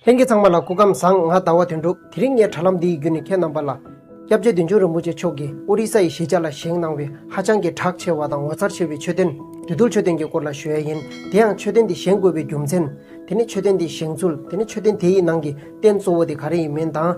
ལྷན་རྒྱས་ཚང་མ་ལ་སྐུ་ཁམས་བཟང་ང་ཟླ་བ་དོན་འགྲུབ་དེ་རིང་ངས་དྲ་ལམ་འདིའི་བརྒྱུད་ནས་ཁྱེད་རྣམ་པ་ལ། སྐྱབས་རྗེ་བདུད་འཇོམས་རིན་པོ་ཆེ་མཆོག་གིས་ཨོ་རི་ས་ཡི་གཞིས་ཆགས་ལ་བཞེངས་གནང་བའི་ཧ་ཅང་གི་གྲགས་ཆེ་བ་དང་ངོ་མཚར་ཆེ་བའི་མཆོད་རྟེན། བདུད་འདུལ་མཆོད་རྟེན་གྱི་སྐོར་ལ་ཞུ་ཡས་ཡིན། དེ་ཡང་མཆོད་རྟེན་དེ་བཞེངས་དགོས་པའི་རྒྱུ་མཚན། དེ་ནི་མཆོད་རྟེན་དེའི་བཞེངས་ཚུལ་དེ་ནི་མཆོད་རྟེན་དེ་ཡི་ནང་གི་རྟེན་གཙོ་བོ་དེ་ག་རེ་ཡིན་མིན་དང།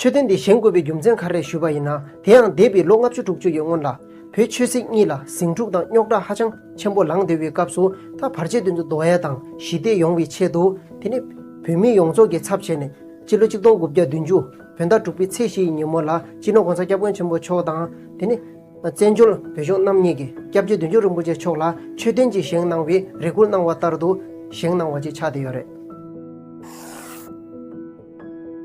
མཆོད་རྟེན་འདི་བཞེངས་དགོས་པའི་རྒྱུ་མཚན་ག་རེ་ཞུས་པ་ཡིན་ན་དེ་ཡང་འདས་པའི་ལོ་ལྔ་བཅུ་དྲུག་ཅུ་ཡི་སྔོན་ལ། བོད་ཆོས་སྲིད་གཉིས་ལ་ཟིང་འཁྲུག་དང་རྙོག་དྲ་ཧ་ཅང་ཆེན་པོ་ལངས་སྡོད་པའི་སྐབས་སུ་ད་བར་རྗེས་མཐུན་དུ་རྡོ་ཡལ་དང་ཞི་བདེ་ཡོང་བའི་ཆེད་དུ། དེ་ནི། བོད་མི་ཡོངས་རྫོགས་ཀྱི་ཚབ་བྱས་ནས། སྤྱི་ལོ་གཅིག་སྟོང་དགུ་བརྒྱ་བདུན་ཅུ། བོད་ཟླ་དྲུག་པའི་ཚེས་བཞི་ཡི་ཉིན་མོ་ལ་སྤྱི་ནོར་གོང་ས་སྐྱབས་མགོན་ཆེན་པོ་མཆོག་དང། དེ་ནི། བཙན་བྱོལ་བོད་གཞུང་རྣམ་གཉིས་ཀྱི་སྐྱབས་རྗེ་བདུན་ཅུ་རིན་པོ་ཆེ་མཆོག་ལ་མཆོད་རྟེན་གྱི་བཞེངས་གནང་བའི་རེ་སྐུལ་གནང་བ་ལྟར་དུ་བཞེངས་གནང་བ་ཅིག་ཆགས་བསྡད་ཡོད་རེད།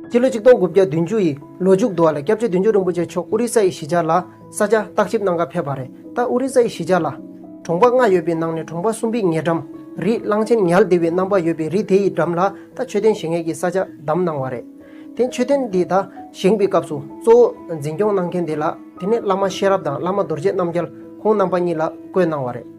སྤྱི་ལོ་ཆིག་སྟོང་དགུ་བརྒྱ་བདུན་ཅུ་ཡི་ལོ་མཇུག་ཏུ་བ་ལ་སྐྱབས་རྗེ་བདུན་ཅུ་རིན་པོ་ཆེ་མཆོག་ཨོ་རི་ས་ཡི་གཞིས་ཆགས་ལ་ས་ཆ་བརྟག་ཞིབ་གནང་སྐབས་ཕེབས་པ་རེད་ད་ཨོ་རི་ས་ཡི་གཞིས་ཆགས་ལ། གྲོང་པ་ལྔ་ཡོད་པའི་ནང་ནས་གྲོང་པ་གསུམ་པའི་ཉེ་འགྲམ། རི་གླང་ཆེན་ཉལ་བདེ་བའི་རྣམ་པ་ཡོད་པའི་རི་དེ་ཡི་འགྲམ་ལ་ད་མཆོད་རྟེན་བཞེངས་མཁན་གྱི་ས་ཆ་བདམས་གནང་བ་རེད། དེ་མཆོད་རྟེན་དེ་དག་བཞེངས་པའི་སྐབས་སུ་གཙོ་བོ་འཛིན་སྐྱོང་གནང་མཁན་དེ་ལགས་དེ་ནི་བླ་མ་ཤེས་རབ་དང་བླ་མ་རྡོ་རྗེ་རྣམ་རྒྱལ་ཁོང་རྣམ་པ་གཉིས་ལ་བསྐོས་གནང་བ་རེད།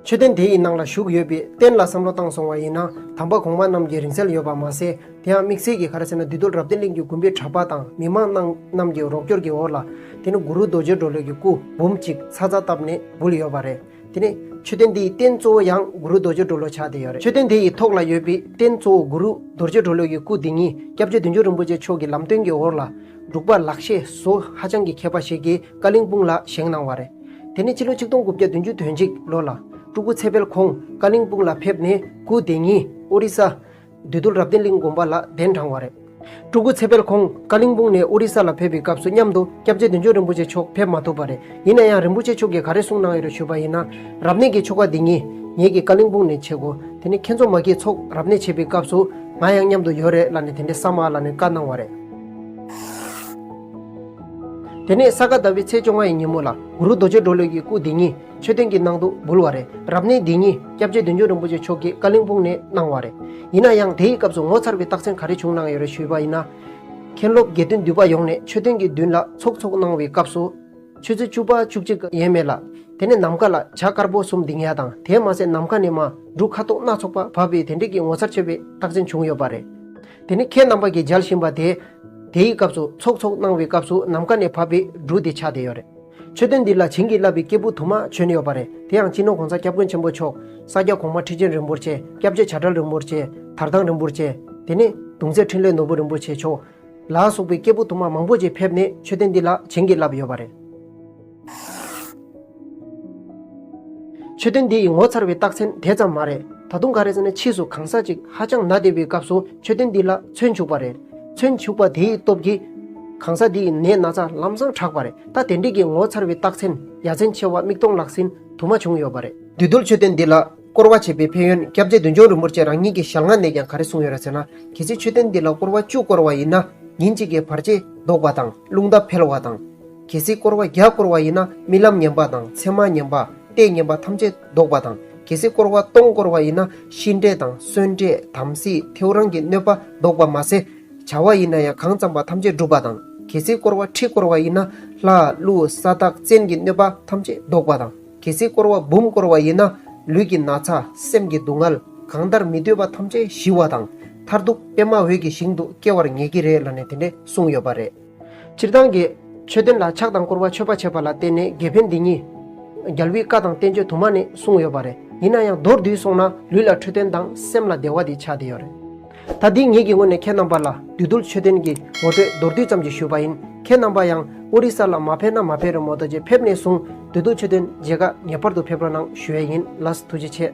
མཆོད་རྟེན་དེ་ཡི་ནང་ལ་བཞུགས་ཡོད་པའི་རྟེན་ལ་བསམ་བློ་བཏང་སོང་བ་ཡིན་ན་དམ་པ་གོང་མ་རྣམས་ཀྱི་རིང་བསྲེལ་ཡོད་པ་མ་ཟད་དེ་ཡང་དམིགས་བསལ་གྱིས་ག་རེ་ཟེར་ན་བདུད་སྟོད་རབ་བརྟན་གླིང་གི་དགོན་པའི་གྲྭ་པ་དང་མི་མང་རྣམས་ཀྱི་རོགས་སྐྱོར་གྱི་འོག་ལ་དེ་ནི་གུ་རུ་རྡོ་རྗེ་གྲོ་ལོད་ཀྱི་སྐུ་འབུམ་གཅིག་ཚ་ཚ་བཏབ་ནས་འབུལ་ཡོད་པ་རེད། དེ་ནས་མཆོད་རྟེན་དེའི་རྟེན་གཙོ་བོ་ཡང་གུ་རུ་རྡོ་རྗེ་གྲོ་ལོ་ཕྱག་དེ་ཡོད་རེད་མཆོད་རྟེན་དེ་ཡི་ཐོག་ལ་ཡོད་པའི་རྟེན་གཙོ་བོ་གུ་རུ་རྡོ་རྗེ་གྲོ་ལོ་ཡི་སྐུ་དེ་ཉིད་སྐྱབས་རྗེ་བདུད་འཇོམས་རིན་པོ་ཆེ་མཆོག་གི་ལམ་སྟོན་གྱི་འོག་ལ། འབྲུག་པ་ལགས་ཞེས་བཟོ་ཧ་ཅང་གི་མཁས་པ་ཞིག་གིས་ཀ་གླིང་སྤུངས་ལ་བཞེངས་གནང་བ་རེད། དེ་ནས་ཕྱི་ལོ་ཆིག་སྟོང་དགུ་བརྒྱ་བདུན་ཅུ་དོན་གཅིག་ལོ་ལ། སྤྲུལ་སྐུ་ཚེ་དཔལ་ཁོང་ཀ་གླིང་སྤུངས་ལ་ཕེབས་ནས་སྐུ་དེ་ཉིད་ཨོ་རི་ས། བདུད་རྡོ་རབ་བརྟན་གླིང་དགོན་པ་ལ་གདན་དྲངས་བ་རེད། སྤྲུལ་སྐུ་ཚེ་དཔལ་ཁོང་ཀ་གླིང་སྤུངས་ནས་ཨོ་རི་ས་ལ་ཕེབས་པའི་སྐབས་སུ་མཉམ་དུ་སྐྱབས་རྗེ་བདུན་ཅོ་རིན་པོ་ཆེ་མཆོག་ཕེབས་མ་ཐུབ་པ་རེད་ཡིན་ན་ཡང་རིན་པོ་ཆེ་མཆོག་གིས་ག་རེ་གསུངས་གནང་ཡོད་རེ་ཞུས་པ་ཡིན་ན། རབ་གནས་ཀྱི་ཆོ་ག་འདི་ཉིད་ངེད་ཀྱིས་ཀ་གླིང་སྤུངས་ནས་བྱེད་དགོས་དེ་ནི་མཁན་ཚོགས་མ་ཁྱེད་ཚོགས་རབ་གནས་བྱེད་པའི་སྐབས་སུ་ང་ཡང་མཉམ་དུ་ཡོད་རེད་ལ་ནི་དེ་འདྲའི་ས་མ་ལ་ནི་བཀའ་གནང་བ་རེད། དེ་ནས་ས་ག་ཟླ་བའི་ཚེས་བཅོ་ལྔ་ཡི་ཉིན་མོ་ལ་གུ་རུ་རྡོ་རྗེ་སྒྲོལ་ལོད་ཀྱི་སྐུ་དེ་ཉིད། མཆོད་རྟེན་གྱི་ནང་དུ་འབུལ་བ་རེད། རབ་གནས་འདི་ཉིད་སྐྱབས་རྗེ་བདུད་འཇོམས་རིན་པོ་ཆེ་མཆོག་གིས་ཀ་ལིང་སྤུངས་ནས་གནང་བ་རེད། ཡིན་ན་ཡང་དེའི་སྐབས་སུ་ངོ་མཚར་བའི་རྟགས་མཚན་ག་རེ་བྱུང་གནང་ཡོད་རེད་ཞུས་པ་ཡིན་ན། མཁན་སློབ་དགེ་འདུན་འདུས་པ་ཡོངས་ནས་མཆོད་རྟེན་གྱི་མདུན་ལ་ཚོགས་འཚོགས་གནང་བའི་སྐབས་སུ། ཆོས་ཚུལ་བཅུ་པ་བཅུ་གཅིག་ག་ཡེངས་མེད་ལ། དེ་ནས་ནམ་མཁའ་ལ་བྱ་དཀར་པོ་གསུམ་ལྡིང་ཡ་དང་དེའི་མ་ཟད་ནམ་མཁའ་ནས་མ་འབྲུག་ཁ་དོག་སྣ་ཚོགས་པ་བབས་པའི་དེ་འབྲེལ་གྱི་ངོ་མཚར་ཆེ་བའི་རྟགས་མཚན་བྱུང་ཡོད་པ་རེད། དེ་ནི་མཁན་རྣམ་པ་གྱིས་མཇལ་བཞིན་པ་དེས། དེའི་སྐབས་སུ་ཚོགས་འཚོགས་གནང་བའི་སྐབས་སུ་ནམ་མཁའ་ནས་བབས་པའི་འབྲུག་དེ་ཆགས་བསྡད་ཡོད་རེད། མཆོད་རྟེན་འདི་ལ་བྱིན་གྱིས་བརླབས་པའི་སྐྱེས་བུ་དུ་མ་བྱོན་ཡོད་པ་རེད་དེ་ཡང་སྤྱི་ནོར་གོང་ས་སྐྱབས་མགོན་ཆེན་པོ་མཆོག་ས་སྐྱ་གོང་མ་ཁྲི་ཆེན་རིན་པོ་ཆེ་སྐྱབས་རྗེ་བྱ་བྲལ་རིན་པོ་ཆེ་དར་ཐང་རིན་པོ་ཆེ་དེ་ནས་གདུང་སྲས་འཕྲིན་ལས་ནོར་བུ་རིན་པོ་ཆེ་མཆོག་ལ་སོགས་པའི་སྐྱེས་བུ་དུ་མ་མང་པོ་ཆེ་ཕེབས་ནས་མཆོད་རྟེན་འདི་ལ་བྱིན་གྱིས་བརླབས་ཡོད་པ་རེད། མཆོད་རྟེན་འདི་ཡི་ངོ་མཚར་བའི་རྟགས་མཚན་དེ་ཙམ་མ་རེད་ད་དུང་ག་རེ་ཟེར་ན་ཕྱིས་སུ་གང་ཟག་ཅིག་ཧ་ཅང་ནག་བསྡད་པའི་སྐབས་སུ་མཆོད་རྟེན་འདི་ལ་མཚོན་བྱུགས་པ་རེད། ཚུན་ཕྱུག་པ་དེའི་སྟོབས་ཀྱིས། གང་ཟག་འདིའི་ནད་སྣ་ཚ་ལམ་བཟང་དྲགས་པ་རེད་ད་དེ་འདྲས་ཀྱི་ངོ་མཚར་བའི་རྟགས་མཚན་ཡ་མཚན་ཆེ་བ་མིག་སྟོང་ལག་ཟིན་དུ་མ་བྱུང་ཡོད་པ་རེད། འདུས་རྡུལ་མཆོད་རྟེན་འདི་ལ་སྐོར་བ་བྱེད་པའི་ཕན་ཡོན་སྐྱབས་རྗེ་བདུད་འཇོམས་རིན་པོ་ཆེ་རང་ཉིད་ཀྱི་ཞལ་སྔ་ནས་ཀྱང་ག་རེ་གསུངས་ཡོད་ར་ཟེར་ན་གལ་སྲིད་མཆོད་རྟེན་འདི་ལ་སྐོར་བ་བཅུ་བསྐོར་བ་ཡིན་ན་ཉིན་གཅིག་གི་བར་ཆད་བཟློག་པ་དང་རླུང་རྟ་འཕེལ་བ་དང། གལ་སྲིད་བསྐོར་བ་བརྒྱ་བསྐོར་བ་ཡིན་ན་རྨི་ལམ་ཉམས་པ་དང་མཚན་མ་ཉམས་པ། ལྟས་ཉམས་པ་ཐམས་ཅད་བཟློག་པ་དང། གལ་སྲིད་བསྐོར་བ་སྟོང་བསྐོར་བ་ཡིན་ན་ཤི་འདྲེ་དང་གསོན་འདྲེ་དམ་སྲི་ཐེའུ་རང་གི་གནོད་པ་བཟློག་པ་མ་ཟད། བྱ་བ་ཡིན་ན་ཡང་གང་བརྩམས་པ་ཐམས་ཅད་འགྲུབ་པ་དང། གལ་སྲིད་བསྐོར་བ་ཁྲི་བསྐོར་བ་ཡིན་ན་ལྷ། ཀླུ། ས་བདག་བཙན་གྱི་གནོད་པ་ཐམས་ཅད་བཟློག་པ་དང། གལ་སྲིད་བསྐོར་བ་འབུམ་བསྐོར་བ་ཡིན་ན། ལུས་ཀྱི་ན་ཚ་སེམས་ཀྱི་སྡུག་བསྔལ། གང་ལྟར་མི་འདོད་པ་ཐམས་ཅད་ཞི་བ་དང། མཐར་ཐུག་པདྨ་འོད་ཀྱི་ཞིང་དུ་སྐྱེ་བར་ངེས་ཀྱི་རེད་ལ་ནས་དེ་འདྲས་གསུངས་ཡོད་པ་རེད། སྤྱིར་བཏང་དགེ། མཆོད་རྟེན་ལ་ཕྱག་དང་བསྐོར་བ་མཆོད་པ་བྱེད་པ་ལ་བརྟེན་ནས་དགེ་ཕན་འདི་གཉིས། རྒྱལ་བུའི་བཀའ་དང་བསྟན་བཅོས་དུ་མ་ནས་གསུངས་ཡོད་པ་རེད། ཡིན་ན་ཡང་མདོར་བསྡུས་སོང་ན་ལུས་ལ་འཕྲོད་བསྟེན་དང་སེམས་ལ་བདེ་བ་འདི་ཆ་དེ་ཡོད་རེད། ད་འདི་ངེད་ཀྱི་ངོས་ནས་ཁྱེད་རྣམ་པ་ལ་བདུད་རྡུལ་མཆོད་རྟེན་གྱི་ངོ་སྤྲོད་མདོར་བསྡུས་ཙམ་གྱིས་ཞུས་པ་ཡིན། ཁྱེད་རྣམ་པ་ཡང་ཨོ་རི་ས་ལ་མ་ཕེབས་ན་མ་ཕེབས་རེད་མོད་ད་རྗེས་ཕེབས་ནས་བཟུང་བདུད་རྡུལ་མཆོད་རྟེན་མཇལ་ཁ་ངེས་པར་དུ་ཕེབས་རོགས་གནང་ཞུ་ཡས་ཡིན་ལགས་ཐུགས་རྗེ་ཆེ།